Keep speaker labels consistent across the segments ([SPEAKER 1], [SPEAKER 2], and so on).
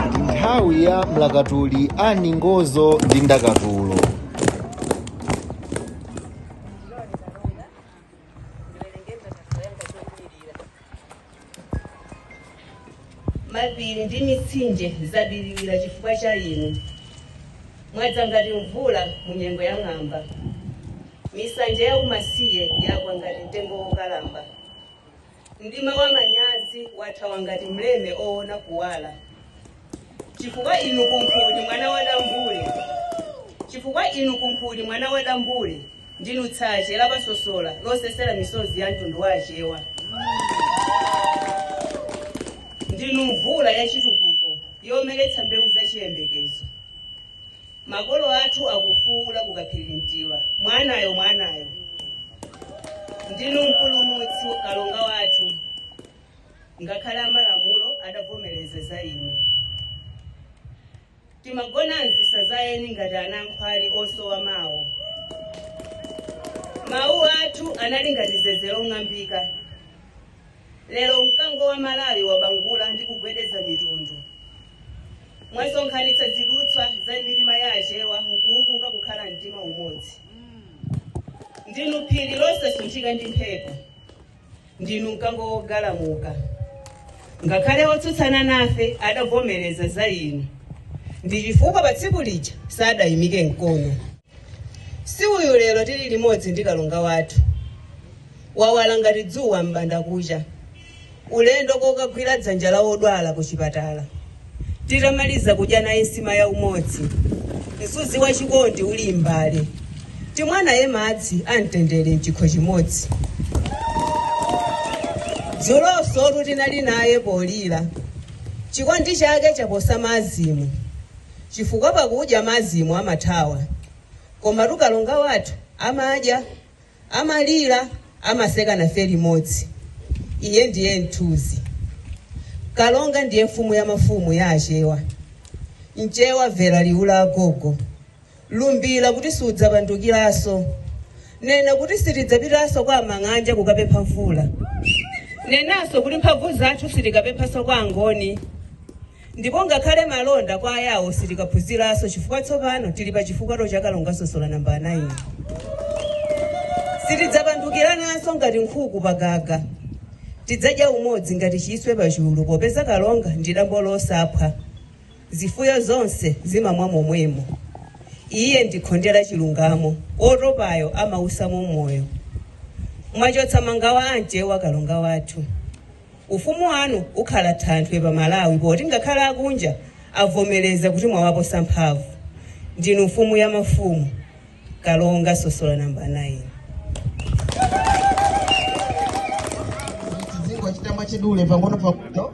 [SPEAKER 1] ndi nthawi ya mlakatuli ani ngozo ndi ndakatulo Mapiri ndi mitsinje zabiriwira chifukwa cha inu, mwadza ngati mvula mu nyengo ya ng'amba. Misanje ya kumasiye yagwa ngati mtengo wokalamba. Mdima wamanyazi wathawa ngati mleme oona kuwala. chifukwa inu kunkhuni mwana wa dambule ndinu tsache la pasosola losesera misozi ya mtundu wa achewa ndinu mvula ya chitukuko yomeretsa mbewu za chiyembekezo makolo athu akufuula ku kaphirintiwa mwanayo mwanayo ndinu mpulumutsi kalonga wathu ngakhale amalamulo adavomereza za inu. Timagona m'zisa za eni ngati anankhwali osowa mawo. Mawu athu anali ngati zeze long'ambika. Lero mkango wa Malawi wabangula ndi kugwedeza mitundu. Mwasonkhanitsa zidutswa za mitima ya Achewa nkuwulunga kukhala mtima umodzi. Ndinu phiri losasunthika ndi mphepo. Ndinu Mkango wogalamuka. Ngakhale otsutsana nafe adavomereza za Inu, ndi chifukwa pa tsiku lija sadayimike mkono. Si uyu lero tili limodzi ndi Kalonga wathu, wawala ngati dzuwa m'bandakucha, ulendo kokagwira dzanja la wodwala kuchipatala. Tidamaliza kudya naye nsima ya umodzi, msuzi wa chikondi uli m'mbale, timwa naye madzi a mtendere m'chikho chimodzi. Dzulonsotu tinali naye polira, chikondi chake chaposa cha azimu, chifukwa pakudya azimu amathawa, komatu Kalonga wathu amadya Amalira amaseka nafe limodzi iye ndiye mthunzi kalonga ndiye mfumu ya mafumu ya achewa mchewa mvera liwu la agogo lumbila kuti sudzapandukilanso nena kuti sitidzapitanso kwa amang'anja kukapempha mvula nenanso kuti mphamvu zathu sitikapemphanso kwa angoni Ndipo ngakhale malonda kwa Ayawo sitikaphunziranso chifukwa tsopano tili pa chifukato cha Kalonga Sosola nambala 9. Sitidzapandukirananso ngati nkhuku pa gaga. Tidzadya umodzi ngati chiswe pa chulu popeza Kalonga ndi dambo losaphwa. Zifuyo zonse zimamwa momwemo. Iye ndi khonde la chilungamo, wotopayo amausamo moyo. Mwachotsa mangawa a Mchewa Kalonga wathu. Ufumu wanu ukhala thanthwe pa Malawi poti ngakhale akunja avomereza kuti mwawaposa mphamvu. Ndinu mfumu ya mafumu, Kalonga Sosola number 9. Tizingochita mwachidule pang'ono pang'ono.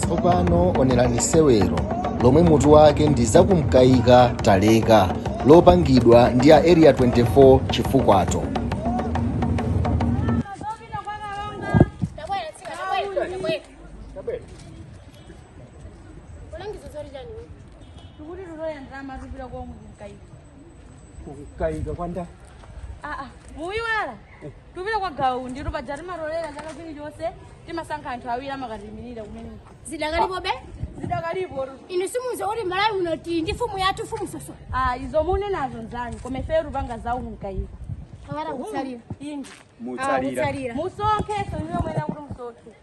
[SPEAKER 1] tsopano onerani sewero lomwe mutu wake ndi za kumkaika taleka lopangidwa ndi a area 24 chifukato Ulangizo zori jani. Tukuri ruroya ndama rubira kwa mungu mkaidi. Kumkaika kwanda. Ah, ah, mwaiwala tupita kwa Gawa Undi paja timatolera zaka zilizonse timasankha anthu awiri amakatiimirira kumene zidakalipobe zidakalipo inu simudziwa kuti Malawi muno tili ndi mfumu yathu mfumu Soso ah, izo munenazo nzanu koma ifeyo tupanga za kumkaika akata kutsalira ingi Mutsalira. musonkheso iwe mwene kuti musonkhe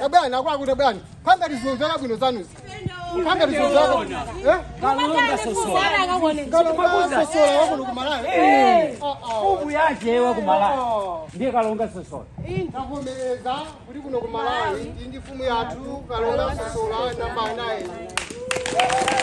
[SPEAKER 1] Tabwani akwaku tabwani. Panga tizozera bwino zanuzi. Panga tizozera. Eh? Kalonga Sosola. Kalonga Sosola wakuno ku Malawi. Eh. Oh oh. Ubu yake wako malayo. Oh. Ndiye Kalonga Sosola. Takomereza kuti kuno ku Malawi iyi ndi mfumu yathu Kalonga Sosola namba 9.